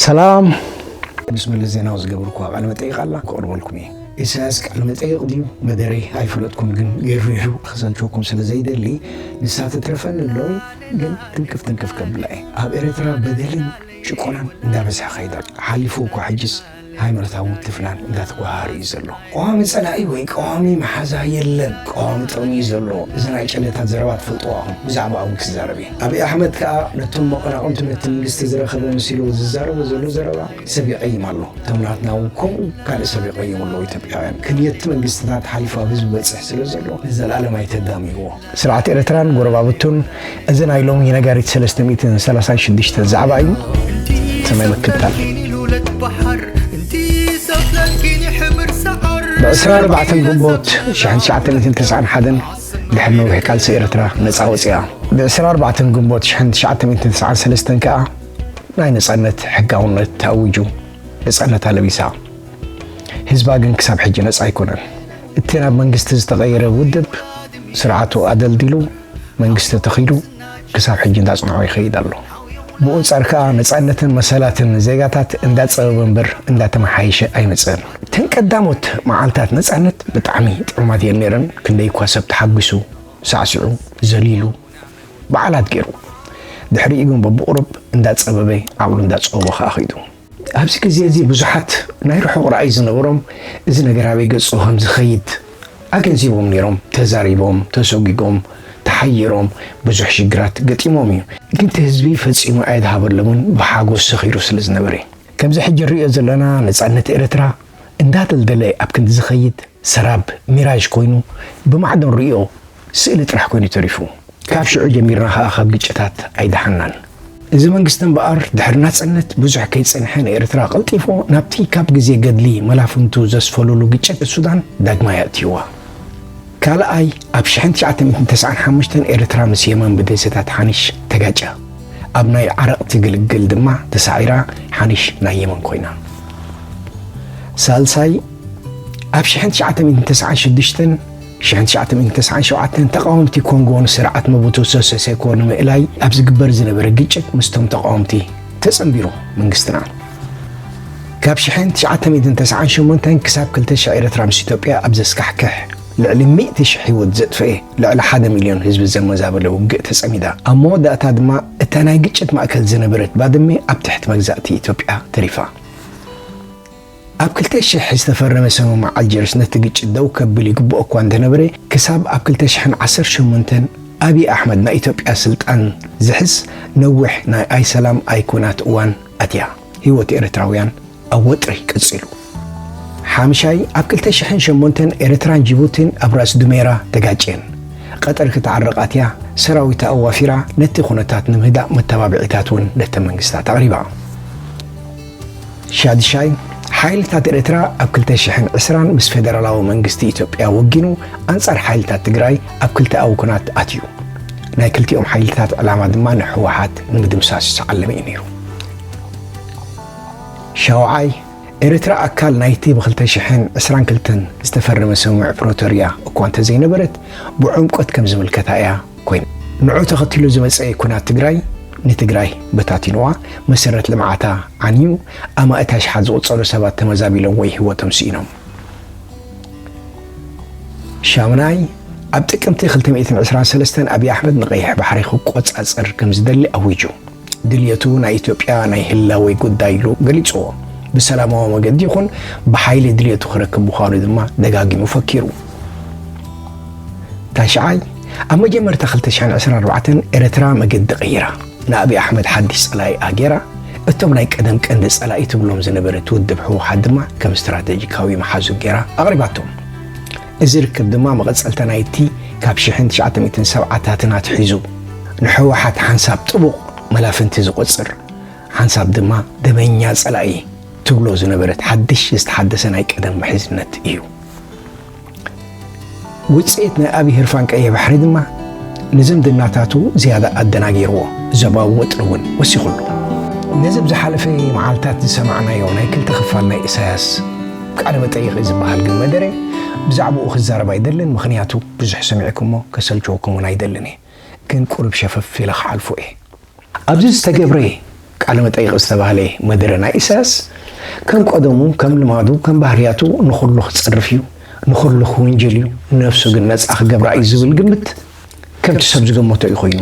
ሰላም ምስ መለስ ዜናዊ ዝገብርኩ ቃለ መጠይቅ ኣላ ክቅርበልኩም እየ ኢሳያስ ቃለ መጠይቅ ድዩ መደረ ኣይፈለጥኩም ግን ገሪሩ ክሰልቸኩም ስለ ዘይደሊ ንሳ ትትረፈኒ ኣሎ ግን ትንክፍ ትንክፍ ከብላ እየ ኣብ ኤርትራ በደልን ጭቆናን እንዳበዝሐ ከይዳ ሓሊፉ እኳ ሕጅስ ሃይማኖታዊ ምትፍናን እንዳተጓሃረ እዩ ዘሎ። ቀዋሚ ጸላኢ ወይ ቀዋሚ መሓዛ የለን፣ ቀዋሚ ጥቕሚ እዩ ዘሎ። እዚ ናይ ጨሌታት ዘረባ ትፈልጥዎ ኣኹም፣ ብዛዕባ ኣቡይ ክዛረብ እየ። ኣብይ ኣሕመድ ከኣ ነቶም መቐናቕንቱ ነቲ መንግስቲ ዝረኸበ መሲልዎ ዝዛረቦ ዘሎ ዘረባ ሰብ ይቐይም ኣሎ። እቶም ናትና እውን ከምኡ ካልእ ሰብ ይቐይሙ ኣለዉ። ኢትዮጵያውያን ክንየትቲ መንግስትታት ሓሊፉ ኣብ ህዝቢ በጽሕ ስለ ዘሎ ንዘልኣለም ኣይተዳምይዎ። ስርዓት ኤረትራን ጎረባብቱን እዚ ናይ ሎሚ ነጋሪት ሰለስተ ሚእትን ሰላሳን ሽዱሽተን ዛዕባ እዩ ሰማይ ምክታል። ብዕስራ ኣርባዕተን ግንቦት ሽሕን ትሽዓተ ሚእትን ተስዓን ሓደን ድሕሪ ነዊሕ ቃልሲ ኤረትራ ነጻ ወጺኣ። ብዕስራ ኣርባዕተን ግንቦት ሽሕን ትሽዓተ ሚእትን ተስዓን ሰለስተን ከኣ ናይ ነጻነት ሕጋውነት ተኣዊጁ ነጻነታ ለቢሳ። ህዝባ ግን ክሳብ ሕጂ ነጻ ኣይኮነን። እቲ ናብ መንግስቲ ዝተቐየረ ውድብ ስርዓቱ ኣደልዲሉ መንግስቲ ተተኺሉ ክሳብ ሕጂ እንዳጽንዖ ይኸይድ ኣሎ። ብኡንጻር ከኣ ነጻነትን መሰላትን ዜጋታት እንዳጸበበ እምበር እንዳተመሓየሸ ኣይመጽእን። እተን ቀዳሞት መዓልታት ነጻነት ብጣዕሚ ጥዑማት እየን ነይረን፣ ክንደይ እኳ ሰብ ተሓጒሱ፣ ሳዕሲዑ፣ ዘሊሉ፣ በዓላት ገይሩ። ድሕሪኡ ግን በብቑሩብ እንዳጸበበ ዓቕሉ እንዳጸበቦ ከኣ ኸይዱ። ኣብዚ ግዜ እዚ ብዙሓት ናይ ርሑቕ ራእይ ዝነበሮም እዚ ነገር ኣበይ ገጹ ከም ዝኸይድ ኣገንዚቦም ነይሮም፣ ተዛሪቦም፣ ተሶጊጎም፣ ተሓይሮም፣ ብዙሕ ሽግራት ገጢሞም እዩ። ግን እቲ ህዝቢ ፈጺሙ ኣየድሃበሎምን ብሓጎስ ሰኺሩ ስለ ዝነበረ እዩ። ከምዚ ሕጂ ንርእዮ ዘለና ነጻነት ኤርትራ እንዳደልደለ ኣብ ክንዲ ዝኸይድ ሰራብ፣ ሚራዥ፣ ኮይኑ ብማዕዶ ንርእዮ። ስእሊ ጥራሕ ኮይኑ ተሪፉ። ካብ ሽዑ ጀሚርና ከኣ ካብ ግጭታት ኣይደሓንናን። እዚ መንግስቲ እምበኣር ድሕሪ ናጽነት ብዙሕ ከይጸንሐ ንኤርትራ ቀልጢፉ ናብቲ ካብ ግዜ ገድሊ መላፍንቱ ዘስፈሉሉ ግጭት ሱዳን ዳግማይ ኣእትዩዋ። ካልኣይ ኣብ ሽሕን ትሽዓተ ሚእትን ተስዓን ሓሙሽተን ኤርትራ ምስ የማን ብደሴታት ሓኒሽ ተጋጭያ። ኣብ ናይ ዓረቕቲ ግልግል ድማ ተሳዒራ ሓኒሽ ናይ የመን ኮይና። ሳልሳይ ኣብ ሽሕን ትሽዓተ ሚእትን ተስዓን ሽዱሽተን ሽሕን ትሽዓተ ሚእትን ተስዓን ሸውዓተን ተቓወምቲ ኮንጎ ንስርዓት መቡቱ ሰሰ ሴኮ ንምእላይ ኣብ ዝግበር ዝነበረ ግጭት ምስቶም ተቓወምቲ ተጸንቢሩ መንግስትና ካብ ሽሕን ትሽዓተ ሚእትን ተስዓን ሸሞንተን ክሳብ ክልተ ሽሕ ኤርትራ ምስ ኢትዮጵያ ኣብ ዘስካሕክሕ ልዕሊ ሚእቲ ሽሕ ህይወት ዘጥፈኤ ልዕሊ ሓደ ሚልዮን ህዝቢ ዘመዛበለ ውግእ ተጸሚዳ ኣብ መወዳእታ ድማ እታ ናይ ግጭት ማእከል ዝነበረት ባድሜ ኣብ ትሕቲ መግዛእቲ ኢትዮጵያ ተሪፋ። ኣብ ክልተ ሽሕ ዝተፈረመ ሰምምዕ ኣልጀርስ ነቲ ግጭት ደው ከብል ይግብኦ እኳ እንተነበረ፣ ክሳብ ኣብ ክልተ ሽሕን ዓሰርተ ሸሞንተን ኣብይ ኣሕመድ ናይ ኢትዮጵያ ስልጣን ዝሕዝ ነዊሕ ናይ ኣይ ሰላም ኣይ ኩናት እዋን ኣትያ ህይወት ኤርትራውያን ኣብ ወጥሪ ቀጺሉ። ሓምሻይ ኣብ ክልተ ሽሕን ሸሞንተን ኤርትራን ጂቡቲን ኣብ ራስ ዱሜራ ተጋጭየን። ቐጠር ክትዓርቕ ኣትያ ሰራዊታ ኣዋፊራ ነቲ ኩነታት ንምህዳእ መተባብዒታት እውን ነተን መንግስታት ኣቕሪባ። ሻድሻይ፣ ሓይልታት ኤርትራ ኣብ ክልተ ሽሕን ዕስራን ምስ ፌደራላዊ መንግስቲ ኢትዮጵያ ወጊኑ ኣንጻር ሓይልታት ትግራይ ኣብ ክልተኣዊ ኵናት ኣትዩ። ናይ ክልቲኦም ሓይልታት ዕላማ ድማ ንህወሓት ንምድምሳስ ዝተዓለመ እዩ ነይሩ። ሻውዓይ፣ ኤርትራ ኣካል ናይቲ ብክልተ ሽሕን ዕስራን ክልተን ዝተፈረመ ስምምዕ ፕሮቶርያ እኳ እንተዘይነበረት፣ ብዕምቈት ከም ዝምልከታ እያ ኮይኑ ንዑ ተኸትሉ ዝመፀ ኩናት ትግራይ ንትግራይ በታቲንዋ፣ መሰረት ልምዓታ ዓንዩ፣ ኣማኢት ኣሽሓት ዝቑፀሩ ሰባት ተመዛቢሎም ወይ ህይወቶም ስኢኖም። ሻሙናይ ኣብ ጥቅምቲ 223 ኣብይ ኣሕመድ ንቀይሕ ባሕሪ ክቆፃፀር ከምዝደሊ ኣዊጁ። ድልየቱ ናይ ኢትዮጵያ ናይ ህላወ ጉዳይ ኢሉ ገሊጽዎ። ብሰላማዊ መገዲ ይኹን ብሓይሊ ድልየቱ ክረክብ ምዃኑ ድማ ደጋጊሙ ፈኪሩ። ታሽዓይ ኣብ መጀመርታ 2024 ኤርትራ መገዲ ቀይራ ንኣብይ ኣሕመድ ሓድሽ ጸላኢ ኣገይራ እቶም ናይ ቀደም ቀንዲ ጸላኢ ትብሎም ዝነበረት ውድብ ህወሓት ድማ ከም ስትራተጂካዊ መሓዙ ገይራ ኣቕሪባቶም። እዚ ርክብ ድማ መቐጸልታ ናይቲ ካብ ሽሕን ትሽዓተ ሚእትን ሰብዓታትን ኣትሒዙ ንሕወሓት ሓንሳብ ጥቡቕ መላፍንቲ ዝቖጽር ሓንሳብ ድማ ደመኛ ጸላኢ ትብሎ ዝነበረት ሓድሽ ዝተሓደሰ ናይ ቀደም ምሕዝነት እዩ። ውጽኢት ናይ ኣብዪ ህርፋን ቀይሕ ባሕሪ ድማ ንዝምድናታቱ ዝያዳ ኣደናጊርዎ ዞባዊ ወጥሪ እውን ወሲኹሉ ነዚ ብዝሓለፈ መዓልታት ዝሰማዕናዮ ናይ ክልተ ክፋል ናይ ኢሳያስ ቃለ መጠይቕ እዩ ዝበሃል ግን መደረ ብዛዕብኡ ክዛረብ ኣይደልን ምኽንያቱ ብዙሕ ሰሚዕኩሞ ከሰልችወኩም ውን ኣይደልን እየ ግን ቁሩብ ሸፈፍ ኢለ ክሓልፎ እየ። ኣብዚ ዝተገብረ ቃለ መጠይቕ ዝተባህለ መደረ ናይ ኢሳያስ ከም ቀደሙ ከም ልማዱ ከም ባህርያቱ ንኹሉ ክጸርፍ እዩ ንኹሉ ክውንጅል እዩ ነብሱ ግን ነጻ ክገብራ እዩ ዝብል ግምት ከምቲ ሰብ ዝገመቶ እዩ ኮይኑ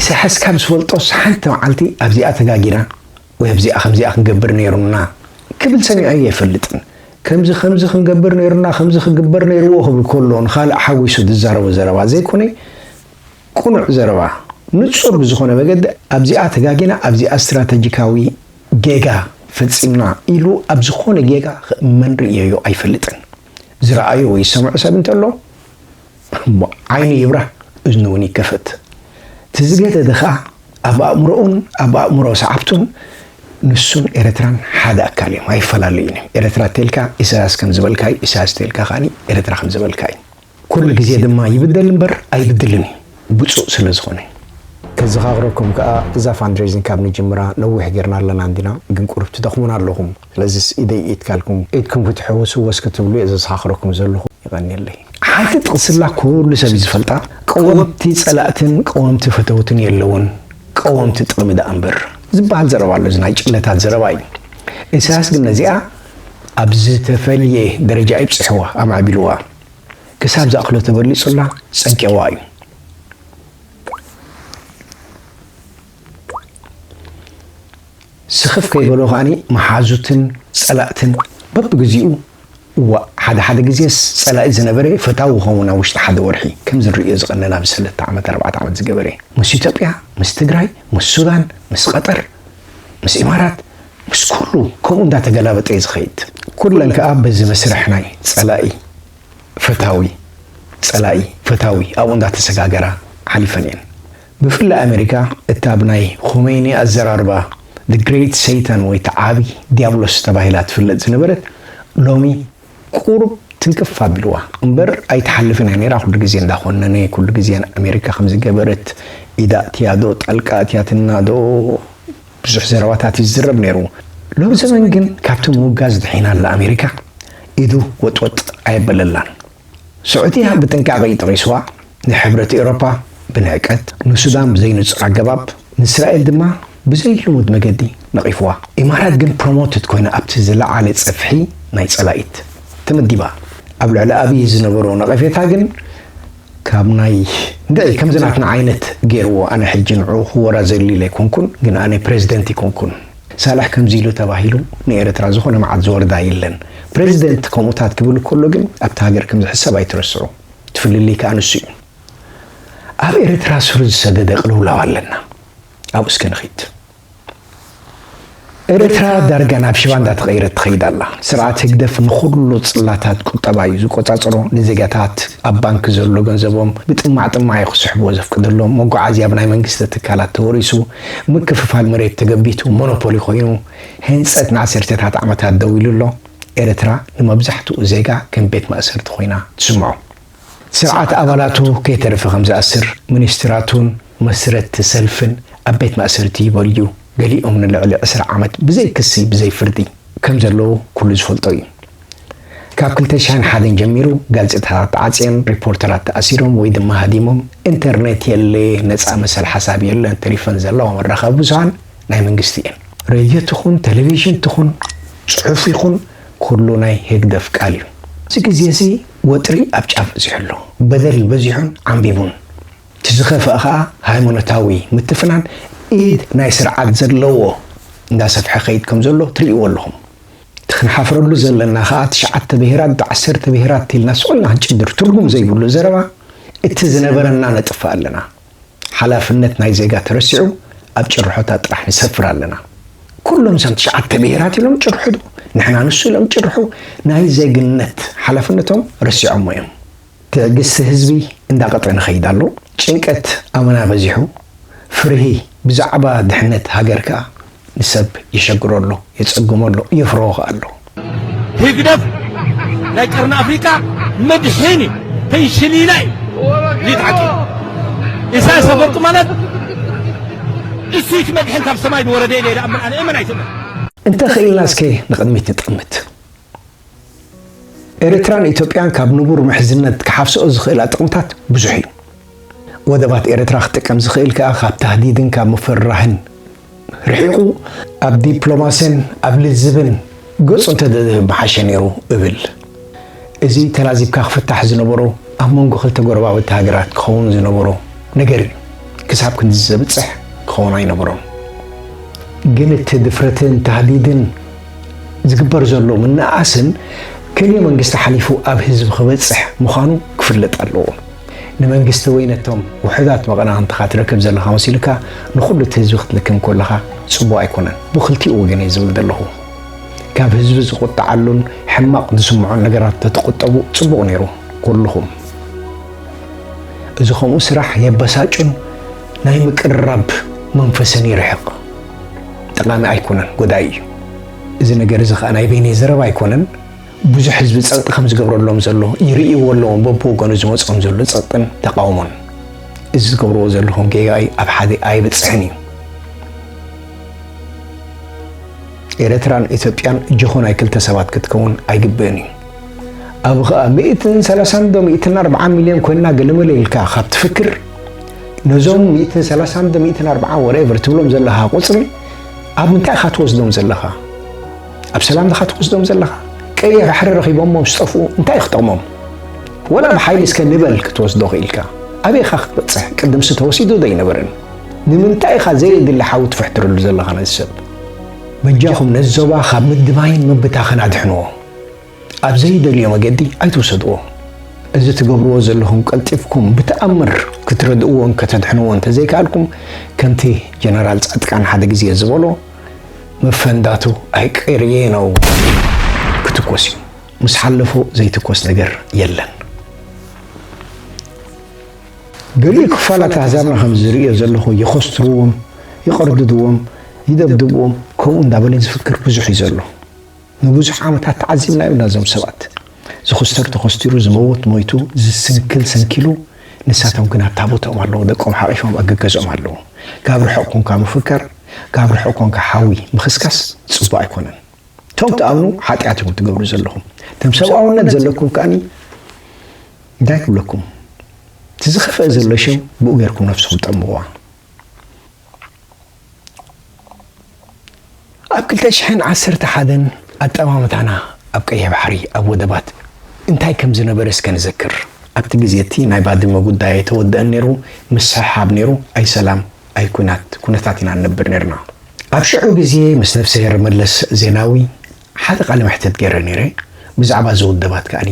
ኢሳያስ ካብ ዝፈልጦስ ሓንቲ መዓልቲ ኣብዚኣ ተጋጊና ወይ ኣብዚኣ ከምዚኣ ክንገብር ነይሩና ክብል ሰሚዐዮ ኣይፈልጥን። ከምዚ ከምዚ ክንገብር ነይሩና፣ ከምዚ ክግበር ነይርዎ ክብል ከሎ ንኻልእ ሓዊሱ ዝዛረቦ ዘረባ ዘይኮነ ቅኑዕ ዘረባ ንጹር ብዝኾነ መገዲ ኣብዚኣ ተጋጊና ኣብዚኣ ስትራተጂካዊ ጌጋ ፈጺምና ኢሉ ኣብ ዝኾነ ጌጋ ክእመን ርእየዮ ኣይፈልጥን። ዝረኣዮ ወይ ዝሰምዖ ሰብ እንተሎ እሞ ዓይኑ ይብራህ እዝኑ እውን ይከፈት እቲ ዝገደደ ከኣ ኣብ ኣእምሮኡን ኣብ ኣእምሮ ሰዓብቱን ንሱን ኤረትራን ሓደ ኣካል እዮም ኣይፈላለዩን እዮም ኤረትራ እተልካ ኢሳያስ ከም ዝበልካ እዩ ኢሳያስ እተልካ ከኣ ኤረትራ ከም ዝበልካ እዩ ኩሉ ግዜ ድማ ይብደል እምበር ኣይብድልን እዩ ብጹእ ስለ ዝኾነ ከዘኻኽረኩም ከኣ እዛ ፋንድሬዚንግ ካብ ንጅምራ ነዊሕ ጌርና ኣለና እንዲና ግን ቁሩብ ትደኽሙና ኣለኹም። ስለዚስ ኢደይ ኢድካ ኢልኩም ኢድኩም ክትሕውሱ ወስ ክትብሉ እየ ዘዘኻኽረኩም ዘለኹ። የቐንየለይ። ሓንቲ ጥቕስላ ኩሉ ሰብ እዩ ዝፈልጣ፣ ቀወምቲ ጸላእትን ቀወምቲ ፈተውትን የለዉን፣ ቀወምቲ ጥቕሚ ደኣ እምበር ዝበሃል ዘረባ ኣሎ። እዚ ናይ ጭለታት ዘረባ እዩ። ኢሳያስ ግን ነዚኣ ኣብ ዝተፈልየ ደረጃ እዩ ኣብጺሕዋ፣ ኣማዕቢልዋ፣ ክሳብ ዝኣኽሎ ተበሊጹላ ጸጊዕዋ እዩ። ስኽፍ ከይበሎ ከኣ መሓዙትን ጸላእትን በብግዜኡ እዋእ ሓደ ሓደ ግዜስ ጸላኢ ዝነበረ ፈታዊ ይኸውን ኣብ ውሽጢ ሓደ ወርሒ ከምዚ ንርእዮ ዝቐነና ኣብዚ ሰለተ ዓመት ኣርባዕተ ዓመት ዝገበረ ምስ ኢትዮጵያ ምስ ትግራይ ምስ ሱዳን ምስ ቐጠር ምስ ኢማራት ምስ ኩሉ ከምኡ እንዳተገላበጠ እዩ ዝኸይድ ኩለን ከኣ በዚ መስርሕ ናይ ጸላኢ ፈታዊ ጸላኢ ፈታዊ ኣብኡ እንዳተሰጋገራ ሓሊፈን እየን። ብፍላይ ኣመሪካ እታ ብ ናይ ኾመይኒ ኣዘራርባ The Great Satan ወይ እቲ ዓቢ ዲያብሎስ ተባሂላ ትፍለጥ ዝነበረት ሎሚ ቁሩብ ትንክፍ ኣቢልዋ እምበር ኣይትሓልፍን እያ ኔራ ኩሉ ግዜ እንዳ ኮነነ ኩሉ ግዜ ን ኣመሪካ ከምዚ ገበረት ኢዳ ኣእትያ ዶ ጣልቃ ኣትያትና ዶ ብዙሕ ዘረባታት ይዝረብ ኔሩ ሎምዘበን ግን ካብቲ ምውጋዝ ድሒና ኣላ ኣመሪካ ኢዱ ወጥ ወጥ ኣየበለላን። ስዑድያ ብጥንቃቐ'ዩ ጠቒስዋ፣ ንሕብረት ኤውሮፓ ብንዕቀት፣ ንሱዳን ብዘይንጹር ኣገባብ፣ ንእስራኤል ድማ ብዘይልሙድ መገዲ ነቒፍዋ። ኢማራት ግን ፕሮሞትድ ኮይና ኣብቲ ዝለዓለ ጽፍሒ ናይ ጸላኢት ተመዲባ። ኣብ ልዕሊ ኣብይ ዝነበሮ ነቐፌታ ግን ካብ ናይ እንድዒ ከምዚ ናትና ዓይነት ገይርዎ፣ ኣነ ሕጂ ንዕኡ ክወራዘሉ'ለ ኣይኮንኩን፣ ግን ኣነ ፕረዚደንት ኣይኮንኩን፣ ሳልሕ ከምዚ ኢሉ ተባሂሉ ንኤረትራ ዝኮነ መዓት ዝወርዳ የለን ፕረዚደንት ከምኡታት ክብል ኮሎ ግን ኣብቲ ሃገር ከምዝሕሰብ ኣይትረስዑ እቲ ፍልልይ ከኣ ንሱ እዩ ኣብ ኤረትራ ስሩ ዝሰደደ ቅልውላው ኣለና ኣብኡ እስከ ንኪድ ኤረትራ ዳርጋ ናብ ሽባ እንዳተቀየረት ትከይድ ኣላ ስርዓት ህግደፍ ንኩሉ ጽላታት ቁጠባ እዩ ዝቆጻጸሮ ንዜጋታት ኣብ ባንኪ ዘሎ ገንዘቦም ብጥማዕ ጥማዕ እዩ ክስሕብዎ ዘፍቅደሎም መጓዓዝያ ብናይ መንግስቲ ትካላት ተወሪሱ ምክፍፋል መሬት ተገቢቱ ሞኖፖሊ ኮይኑ ህንጸት ንዓሰርተታት ዓመታት ደው ኢሉ ኣሎ። ኤርትራ ንመብዛሕትኡ ዜጋ ከም ቤት ማእሰርቲ ኮይና ትስምዖ። ስርዓት ኣባላቱ ከይተረፈ ከም ዝኣስር፣ ሚኒስትራቱን መስረትቲ ሰልፍን ኣብ ቤት ማእሰርቲ ይበልዩ፣ ገሊኦም ንልዕሊ ዕስራ ዓመት ብዘይ ክሲ ብዘይ ፍርዲ ከም ዘለዉ ኩሉ ዝፈልጦ እዩ። ካብ ክልተ ሽሕን ሓደን ጀሚሩ ጋዜጣታት ተዓጽየን፣ ሪፖርተራት ተኣሲሮም ወይ ድማ ሃዲሞም፣ ኢንተርኔት የለ፣ ነጻ መሰል ሓሳብ የለን፣ ተሪፈን ዘለዋ መራኸቢ ብዙሃን ናይ መንግስቲ እየን። ሬድዮ ትኹን ቴሌቪዥን ትኹን ጽሑፍ ይኹን ኩሉ ናይ ህግደፍ ቃል እዩ። ኣብዚ ግዜ እዚ ወጥሪ ኣብ ጫፍ በጺሑ ኣሎ። በደል በዚሑን ዓምቢቡን። እቲ ዝኸፍኣ ከኣ ሃይማኖታዊ ምትፍናን ኢድ ናይ ስርዓት ዘለዎ እንዳሰፍሐ ክኸይድ ከም ዘሎ ትርእይዎ ኣለኹም። እቲ ክንሓፍረሉ ዘለና ከኣ ትሽዓተ ብሄራት ብዓሰርተ ብሄራት ኢልና ስቁልና ክንጭድር ትርጉም ዘይብሉ ዘረባ እቲ ዝነበረና ነጥፍእ ኣለና። ሓላፍነት ናይ ዜጋ ተረሲዑ ኣብ ጭርሖታት ጥራሕ ንሰፍር ኣለና። ኩሎም እዞም ትሽዓተ ብሄራት ኢሎም ጭርሕዱ ንሕና ንሱ ኢሎም ጭርሑ ናይ ዜግነት ሓላፍነቶም ረሲዖሞ እዮም። ትዕግስቲ ህዝቢ እንዳቐጠነ ይኸይድ ኣሎ። ጭንቀት ኣመና በዚሑ። ፍርሂ ብዛዕባ ድሕነት ሃገር ከኣ ንሰብ የሸግሮ ኣሎ፣ የጸግሞ ኣሎ፣ የፍርሆ ከኣ ኣሎ። ህግደፍ ናይ ቀርኒ ኣፍሪቃ መድሕን እዩ ፈንሽሊላ እዩ ድዩ ትሓቂ ኢሳያስ ኣፈወርቂ ማለት እሱይት መድሕን ካብ ሰማይ ዝወረደ ኢለ ይኣምን ኣነ እመን ኣይትእመን። እንተ ኽኢልና እስከ ንቕድሚት ንጠምት። ኤርትራን ኢትዮጵያን ካብ ንቡር ምሕዝነት ክሓፍስኦ ዝኽእላ ጥቕምታት ብዙሕ እዩ። ወደባት ኤርትራ ክጥቀም ዝኽእል ከኣ ካብ ታህዲድን ካብ ምፍርራህን ርሒቑ ኣብ ዲፕሎማሲን ኣብ ልዝብን ገጹ እንተዘዝህብ ምሓሸ ነይሩ እብል። እዚ ተላዚብካ ክፍታሕ ዝነበሮ ኣብ መንጎ ክልተ ጎረባብቲ ሃገራት ክኸውን ዝነበሮ ነገር እዩ። ክሳብ ክንድዚ ዘብጽሕ ክኸውን ኣይነበሮን። ግን እቲ ድፍረትን ታህዲድን ዝግበር ዘሎ ምንእኣስን ክልእ መንግስቲ ሓሊፉ ኣብ ህዝቢ ክበጽሕ ምዃኑ ክፍለጥ ኣለዎ። ንመንግስቲ ወይ ነቶም ውሑዳት መቐናቕንትኻ ትረክብ ዘለኻ መሲሉካ ንኹሉ እቲ ህዝቢ ክትልክም ኮለኻ ጽቡቕ ኣይኮነን። ብክልቲኡ ወገን እየ ዝብል ዘለኹ። ካብ ህዝቢ ዝቑጥዓሉን ሕማቕ ዝስምዖን ነገራት ተትቑጠቡ ጽቡቕ ነይሩ ኩልኹም። እዚ ከምኡ ስራሕ የበሳጩን ናይ ምቅርራብ መንፈስን ይርሕቕ። ጠቓሚ ኣይኮነን፣ ጎዳኢ እዩ። እዚ ነገር እዚ ከኣ ናይ በይነይ ዘረባ ኣይኮነን፣ ብዙሕ ህዝቢ ጸቕጢ ከም ዝገብረሎም ዘሎ ይርእይዎ ኣለዎም፣ በብወገኑ ዝመጾም ዘሎ ጸቕጥን ተቓውሞን። እዚ ዝገብርዎ ዘለኹም ጌጋ እዩ፣ ኣብ ሓደ ኣይበጽሕን እዩ። ኤረትራን ኢትዮጵያን ጀኾ ናይ ክልተ ሰባት ክትከውን ኣይግብእን እዩ። ኣብ ኸኣ ሚእትን ሰላሳን ዶ ሚእትን ኣርብዓን ሚልዮን ኮይና ገለመለ ኢልካ ካብ ትፍክር ነዞም ሚእትን ሰላሳን ዶ ሚእትን ኣርብዓን ወሬቨር ትብሎም ዘለኻ ቁፅሪ ኣብ ምንታይ ኢኻ ትወስዶም ዘለኻ? ኣብ ሰላም ድኻ ትወስዶም ዘለኻ? ቀይሕ ባሕሪ ረኺቦሞ ምስ ጠፍኡ እንታይ እዩ ክጠቕሞም? ወላ ብሓይሊ እስከ ንበል ክትወስዶ ክኢልካ ኣበይ ኢኻ ክትበፅሕ? ቅድምሲ ተወሲዱ ዶ ኣይነበረን? ንምንታይ ኢኻ ዘየድሊ ሓዊ ትፍሕትረሉ ዘለኻ ነዚ ሰብ? በጃኹም ነዚ ዞባ ካብ ምድማይን ምብታኽን ኣድሕንዎ። ኣብ ዘይደልዮ መገዲ ኣይትውሰድዎ። እዚ ትገብርዎ ዘለኹም ቀልጢፍኩም ብተኣምር ክትረድእዎን ከተድሕንዎ እንተዘይከኣልኩም ከምቲ ጀነራል ጻድቃን ሓደ ግዜ ዝበሎ መፈንዳቱ ኣይቅርየ ነው ክትኮስ እዩ። ምስ ሓለፎ ዘይትኮስ ነገር የለን። ገሊኡ ክፋላት ኣህዛብና ከም ዝርእዮ ዘለኹ የኸስትርዎም፣ ይቐርድድዎም፣ ይደብድብዎም ከምኡ እንዳበለ ዝፍክር ብዙሕ እዩ ዘሎ። ንብዙሕ ዓመታት ተዓዚብናዮ እና እዞም ሰባት ዝኹስተር ተኾስቲሩ ዝመውት ሞይቱ ዝስንክል ሰንኪሉ ንሳቶም ግን ኣብታ ቦትኦም ኣለዉ ደቆም ሓቒፎም ኣብ ገገዝኦም ኣለዉ ጋብ ርሑቕ ኮንካ ምፍከር ጋብ ርሑቕ ኮንካ ሓዊ ምኽስካስ ጽቡቕ ኣይኮነን እቶም ትኣምኑ ሓጢኣት ኢኹም ትገብሩ ዘለኹም ከም ሰብኣውነት ዘለኩም ከኣኒ እንታይ ክብለኩም እቲ ዝኸፍአ ዘሎ ሽም ብኡ ጌርኩም ነፍስኹም ጠምዋ ኣብ ክልተ ሽሕን ዓሰርተ ሓደን ኣጠማምታና ኣብ ቀይሕ ባሕሪ ኣብ ወደባት እንታይ ከም ዝነበረ እስከ ንዘክር። ኣብቲ ግዜ እቲ ናይ ባድመ ጉዳይ ኣይተወደኣን ነይሩ፣ ምስሕሓብ ነይሩ፣ ኣይ ሰላም ኣይ ኲናት ኩነታት ኢና ንነብር ነይርና። ኣብ ሽዑ ግዜ ምስ ነፍሰሄር መለስ ዜናዊ፣ ሓደ ቃለ መሕትት ገይረ ነይረ ብዛዕባ እዚ ውደባት ከኣ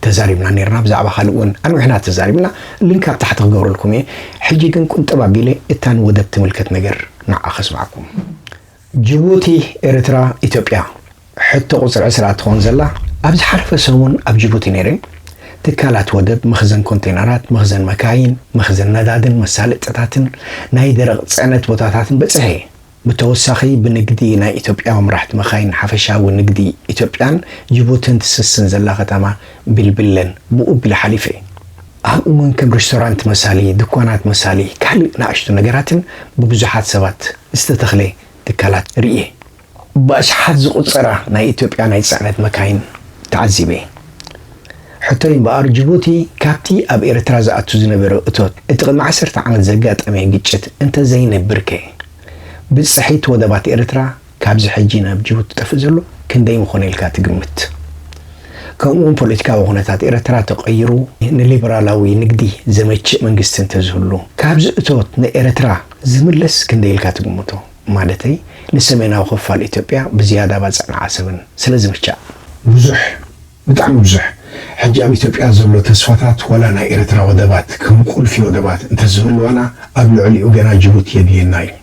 ተዛሪብና ነይርና ብዛዕባ ካልእ ውን ኣንዊሕና ተዛሪብና ሊንክ ኣብ ታሕቲ ክገብረልኩም እየ ሕጂ ግን ቁንጥብ ኣቢለ እታ ንወደብ ትምልከት ነገር ንዓ ከስምዓኩም ጅቡቲ ኤርትራ ኢትዮጵያ ሕቶ ቁጽሪ ዕስራ ትኾን ዘላ ኣብ ዝሓለፈ ሰሙን ኣብ ጅቡቲ ነይረ ትካላት ወደብ መኽዘን ኮንቴነራት መኽዘን መካይን መኽዘን ነዳድን መሳለጥታትን ናይ ደረቕ ጽዕነት ቦታታትን በጺሐ እየ ብተወሳኺ ብንግዲ ናይ ኢትዮጵያዊ መራሕቲ መኻይን ሓፈሻዊ ንግዲ ኢትዮጵያን ጅቡትን ትስስን ዘላ ከተማ ቢልቢለን ብኡ ኣቢለ ሓሊፈ እየ። ኣብኡ እውን ከም ሬስቶራንት መሳሊ፣ ድኳናት መሳሊ፣ ካልእ ንኣሽቱ ነገራትን ብብዙሓት ሰባት ዝተተኽለ ትካላት ርእየ። ብኣሽሓት ዝቑጸራ ናይ ኢትዮጵያ ናይ ጽዕነት መካይን ተዓዚበ። ሕቶይ እምበኣር ጅቡቲ ካብቲ ኣብ ኤርትራ ዝኣቱ ዝነበረ እቶት እቲ ቅድሚ ዓሰርተ ዓመት ዘጋጠመ ግጭት እንተዘይነብርከ ብጽሒት ወደባት ኤርትራ ካብዚ ሕጂ ናብ ጅቡቲ ዝጠፍእ ዘሎ ክንደይ ምኾነ ኢልካ ትግምት ከምኡውን ፖለቲካዊ ኩነታት ኤርትራ ተቀይሩ ንሊብራላዊ ንግዲ ዘመችእ መንግስቲ እንተዝህሉ ካብዚ እቶት ንኤርትራ ዝምለስ ክንደይ ኢልካ ትግምቶ ማለተይ ንሰሜናዊ ክፋል ኢትዮጵያ ብዝያዳ ባጽዕን ዓሰብን ስለዝምቻእ ብዙሕ ብጣዕሚ ብዙሕ ሕጂ ኣብ ኢትዮጵያ ዘሎ ተስፋታት ዋላ ናይ ኤረትራ ወደባት ከም ቁልፊ ወደባት እንተዝህልዋና ኣብ ልዕሊኡ ገና ጅቡቲ የድልየና እዩ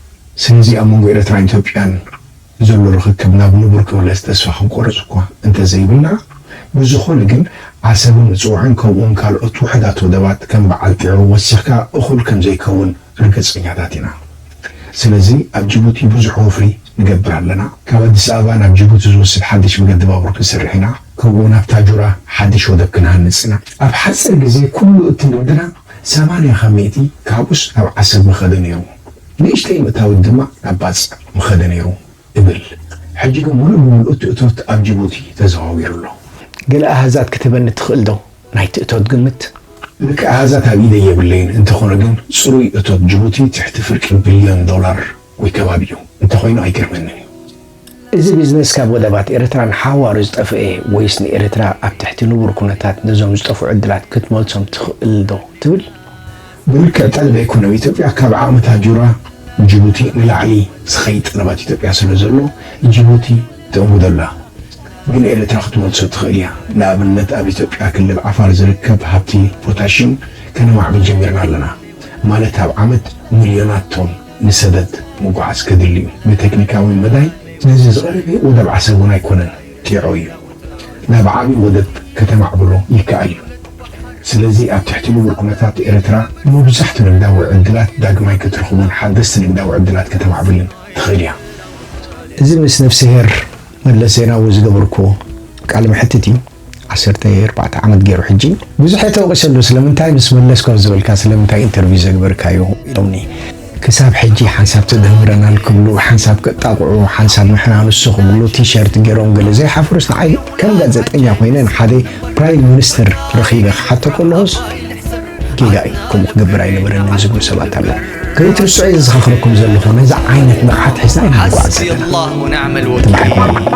ስለዚ ኣብ መንጎ ኤረትራን ኢትዮጵያን ዘሎ ርኽክብ ናብ ንቡር ክምለስ ተስፋ ክንቆርጽ እኳ እንተዘይብልና ብዝኾነ ግን ዓሰብን ምጽዋዕን ከምኡውን ካልኦት ውሑዳት ወደባት ከም በዓል ጢዖ ወሲኽካ እኹል ከምዘይከውን ርግጸኛታት ኢና። ስለዚ ኣብ ጅቡቲ ብዙሕ ወፍሪ ንገብር ኣለና። ካብ ኣዲስ ኣበባ ናብ ጅቡቲ ዝወስድ ሓድሽ መገዲ ባቡር ክንሰርሕ ኢና። ከምኡ'ውን ኣብ ታጁራ ሓድሽ ወደብ ክንሃንጽ ኢና። ኣብ ሓጺር ግዜ ኩሉ እቲ ንግድና ሰማንያ ካብ ሚእቲ ካብኡስ ናብ ዓሰብ ምኸደ ነይሩ። ንእሽተይ ምእታዊት ድማ ናብ ባጽዕ ምኸደ ነይሩ እብል። ሕጂ ግን ምሉእ ብምሉእ እቲ እቶት ኣብ ጅቡቲ ተዘዋዊሩ ኣሎ። ገለ ኣሃዛት ክትህበኒ ትኽእልዶ? ናይቲ እቶት ግምት። ልክዕ ኣሃዛት ኣብ ኢደይ የብለይን፣ እንተኾነ ግን ጽሩይ እቶት ጅቡቲ ትሕቲ ፍርቂ ቢልዮን ዶላር ወይ ከባቢኡ እንተኾይኑ ኣይገርመንን እዩ። እዚ ቢዝነስ ካብ ወደባት ኤርትራ ንሓዋሩ ዝጠፈኤ ወይስ ንኤርትራ ኣብ ትሕቲ ንቡር ኩነታት ነዞም ዝጠፍኡ ዕድላት ክትመልሶም ትኽእልዶ ትብል? ብልክዕ ጠለብ ኣይኮነን ኣብ ኢትዮጵያ ካብ ዓቕሚ ታጁራ ጅቡቲ ንላዕሊ ዝኸይድ ጠለብ ኣብ ኢትዮጵያ ስለ ዘሎ ጅቡቲ ተእንግዶ ኣላ ግን ኤርትራ ክትመልሶ ትኽእል እያ ንኣብነት ኣብ ኢትዮጵያ ክልል ዓፋር ዝርከብ ሃብቲ ፖታሽም ከነማዕብል ጀሚርና ኣለና ማለት ኣብ ዓመት ምልዮናት ቶን ንሰደድ ምጉዓዝ ከድሊ እዩ ብተክኒካዊ መዳይ ነዚ ዝቐረበ ወደብ ዓሰብ እውን ኣይኮነን። ጌሮ እዩ ናብ ዓቢ ወደብ ከተማዕብሎ ይከኣል እዩ ስለዚ ኣብ ትሕቲ ንቡር ኩነታት ኤርትራ ሙብዛሕቱ ንግዳዊ ዕድላት ዳግማይ ክትርኽቦን ሓደስቲ ንግዳዊ ዕድላት ከተማዕብልን ትኽእል እያ። እዚ ምስ ነፍስሄር መለስ ዜናዊ ዝገበርኩዎ ቃለ መሕትት እዩ ዓሰርተ ኣርባዕተ ዓመት ጌሩ ሕጂ። ብዙሕ እየ ተወቒሰሉ ስለምንታይ ምስ መለስ ኮፍ ዝበልካ ስለምንታይ ኢንተርቪው ዘግበርካዮ ኢሎምኒ። ክሳብ ሕጂ ሓንሳብ ተደምረናል ክብሉ ሓንሳብ ከጣቕዑ ሓንሳብ ንሕና ንሱ ክብሉ ቲሸርት ጌሮም ገለ ዘይሓፍሩስ ንዓይ ከም ጋዘጠኛ ኮይነ ንሓደ ፕራይም ምንስትር ረኺበ ክሓቶ ከለኹስ ጌጋ እዩ ከምኡ ክገብር ኣይነበረንን ዝብሉ ሰባት ኣለዉ ከይትርስዑ እየ ዝዘኻኽረኩም ዘለኹ ነዚ ዓይነት ንቕሓት ሒዝና ኢና ንጓዓዝ ዘለና ተባሒኩም